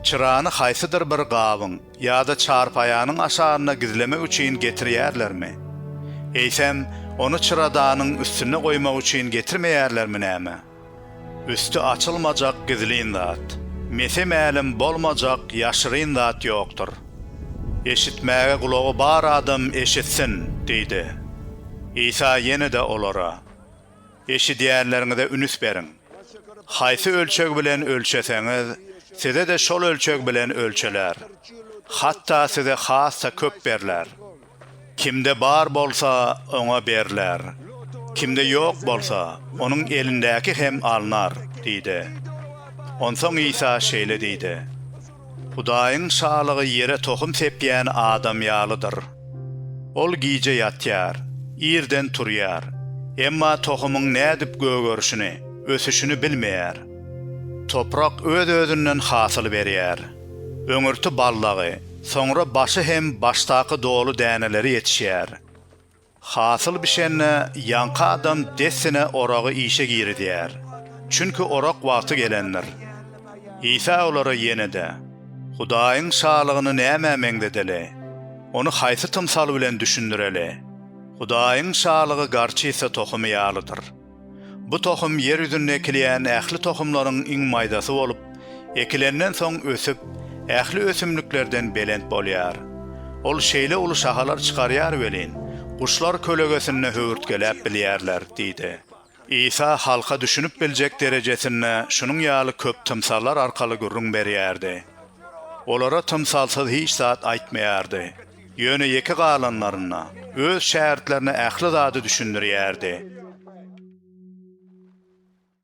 Çyrany haýsydyr bir gabyň ýa-da çarpaýanyň aşagynda gizlemek üçin getirýärlermi? Eýsem, ony çyradanyň üstünde goýmak üçin getirmeýärlermi näme? Üsti açylmajak gizlin zat, mese mälim bolmajak ýaşyryn zat ýokdur. Eşitmäge gulagy bar adam eşitsin! diýdi. Isa ýene-de olara. Eşidýänleriňize ünüs beriň. Haýsy ölçeg bilen ölçeseňiz, size-de şol ölçeg bilen ölçeler. Hatda size has-da köp berler. Kimde bar bolsa, oňa berler. Kimde ýok bolsa, onuň elindäki hem alnar diýdi. Onsoň Isa şeýle diýdi. Hudaýyň Şalygy ýere tohum sepýän adam ýalydyr. Ol gije ýatýar, irden turýar, emma tohumyň nädip gögerişini, ösüşini bilmeýär. Toprak öz-özünden hasyl berýär. Öňürti ballagy, soňra başy hem başdaky doly däneleri ýetişýär. Hasyl bişende ýaňky adam dessine oragy işe girizýär, çünki orak wagty gelendir. Isa olara ýene-de, Hudaýyň Şalygyny nämä meňzedeli? Ony haýsy tymsal bilen düşündireli? Hudaýyň Şalygy garçysa tohumy ýalydyr. Bu tohum ýer ýüzünde ekilýän ähli tohumlaryň iň maýdasy bolup, ekilenden soň ösüp, ähli ösümliklerden belent bolýar. Ol şeýle uly şahalar çykarýar welin, guşlar kölegesinde höwürtgeläp bilýärler diýdi. Isa halka düşünip biljek derejesinde şunuň ýaly köp tymsallar arkaly gürrüň berýärdi. Olara tymsalsyz hiç zat aýtmaýardy. Ýöne ýeke galanlarynda öz şägirtlerine ähli zady düşündirýärdi.